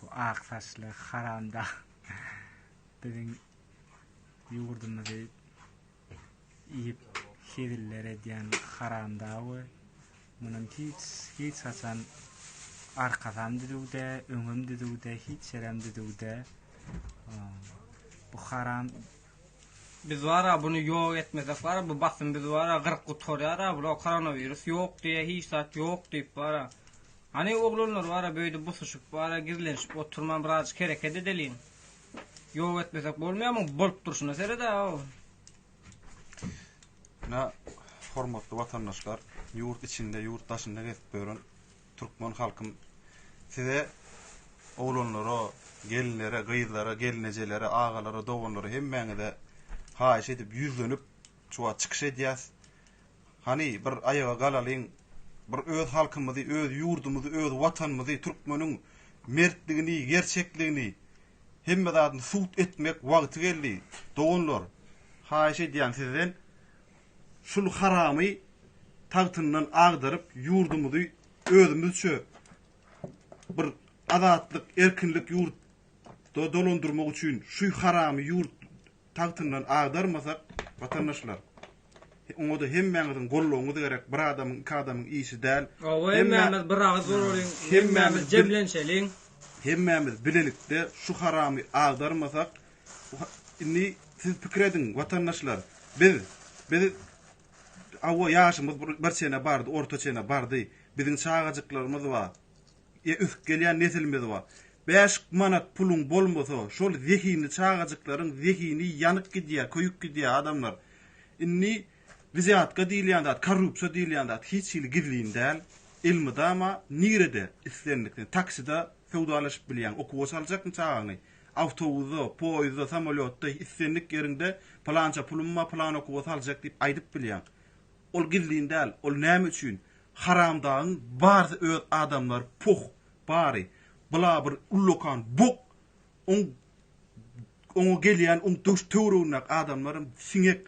Bu ak saçly haramdag biziň ýurdumyzy iýip heziller edýän haramdagy munuň hiç hiç haçan arkasam düzüwde öňem düzüwde hiç ýerem düzüwde bu haram Biz wara bunu ýok etmesek wara bu basym biz wara gyryp gutarýar ha bu koronawirus ýok diýýär hiç zat ýok diýip wara Hany oglanlar bara böýdüp busuşyp bara gizlenşip oturman birazjyk hereket edeliň. Ýok etmesek bolmaýamy bolup durşuna seredäw. Ine hormatly watandaşlar ýurt içinde ýurt daşynda gezip ýören türkmen halkym size oglanlara gelinlere gyzlara gelnejelere agalara doganlara hemmäňize haýyş edip ýüzlenip şu wagt çykyş edýäs. Hany bir aýaga galalyň, bir öz halkymyzy, öz ýurdumyzy, öz Watanymyzy, türkmeniň mertligini, gerçekligini, hemme zadyny subut etmek wagty geldi, doganlar! Haýyş edýän sizden, şul haramy tagtyndan agdaryp, ýurdumyzy özümizçe bir azatlyk, erkinlik ýurtda dolandyrmak üçin, şu haramy ýurt tagtyndan agdarmasak watandaşlar oňada hemmäňiziň goldawyňyz gerek bir adamyň iki adamyň işi däl Hawa hemmämiz bir agyz bolalyň hemmämiz jemlenşeliň hemmämiz bilelikde şu haramy agdarmasak indi siz pikir ediň watandaşlar biz biz Hawa ýaşymyz bir çene bardy orta çene bardy biziň çagajyklarymyz bar E ösüp gelýän nesilimiz bar. Bäş manat puluň bolmasa şol zehinli çagajyklaryň zehini ýanyp gidýär, köýüp gidýär adamlar. Indi wzýatka diýilýän zat, korrupsiýa diýilýän zat hiç hili gizlin däl. Elmydama nirede islendik sen taksida söwdalaşyp bilýäň. Okuwa saljakmy çagaňy? Awtobusda, poýuzda, samolýotda islendik ýeriňde pylança pulum bar, pylan okuwa saljak diýip aýdyp bilýäň. Ol gizlin däl. Ol näme üçin? Haramdagyň barsy öz adamlary puh bary bula bir ullakan bok oň oňa gelýän oň döş töwregindäki adamlaram siňek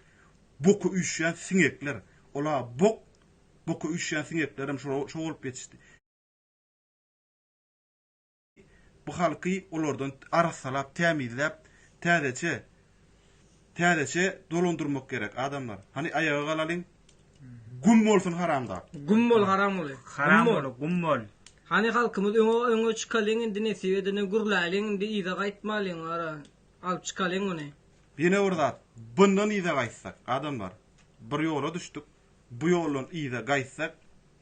boka üýşýän siňekler ola bok boka üýşýän siňeklerem şo şo bolup ýetişdi. bu halky olardan arassalap, tämizläp, täzeçe, täzeçe dolandyrmak gerek, adamlar. Hany aýaga galalyň. Güm bolsun haramdag. Güm bol haramguly. Haram bol, güm bol. Hany halkymyz öňe öňe çykalyň indi nesip edende gürläliň indi yza gaýtmalyň gara alyp çykalyň muny. Ýene bir zat, bundan yza gaýtsak, adamlar, bir ýola düşdük. Bu ýoldan yza gaýtsak,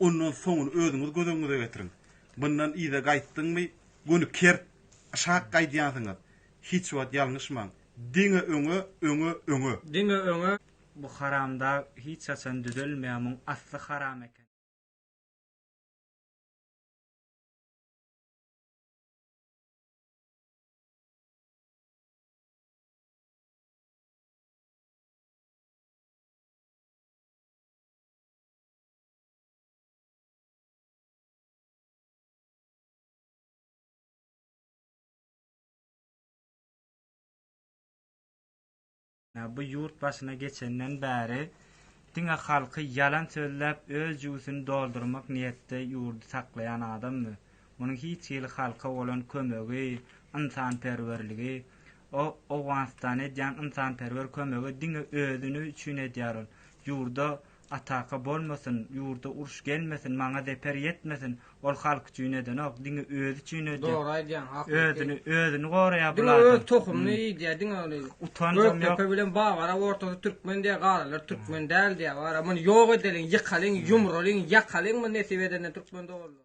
ondan soňuny özüňiz göz öňüňize getiriň. Mundan yza gaýtdyňmy, göni kert, şak gaýdýansyňyz. Hiç wagt ýalňyşmaň. Diňe öňe, öňe, öňe. Diňe öňe. Bu haramdag hiç haçan düzelmeýär, muň asly haram eken. Ýa bu ýurt başyna geçenden bäri diňe halky ýalan sözläp öz jübüsini doldurmak niýetde ýurdy saklaýan adammy? Munuň hiç hili halka bolan kömegi, ynsanperwerligi, Ol Owganystana edýän ynsanperwer kömegi diňe özüni üçin edýär ol ýurda ataka bolmasyn ýurda uruş gelmesin maňa zeper ýetmesin ol halk üçin edenok diňe özi üçin edýär Dogry aýdýaň haklyk özüni özüni goraýar bu diňe öz tohumyny iýdýär diňe ol utanjam ýok Gökdepe bilen Babara ortasy türkmen diýýär galanlar türkmen däl diýýär wara muny ýok edeliň ýykalyň ýumralyň ýakalyň muny nesip edende türkmen doganlar.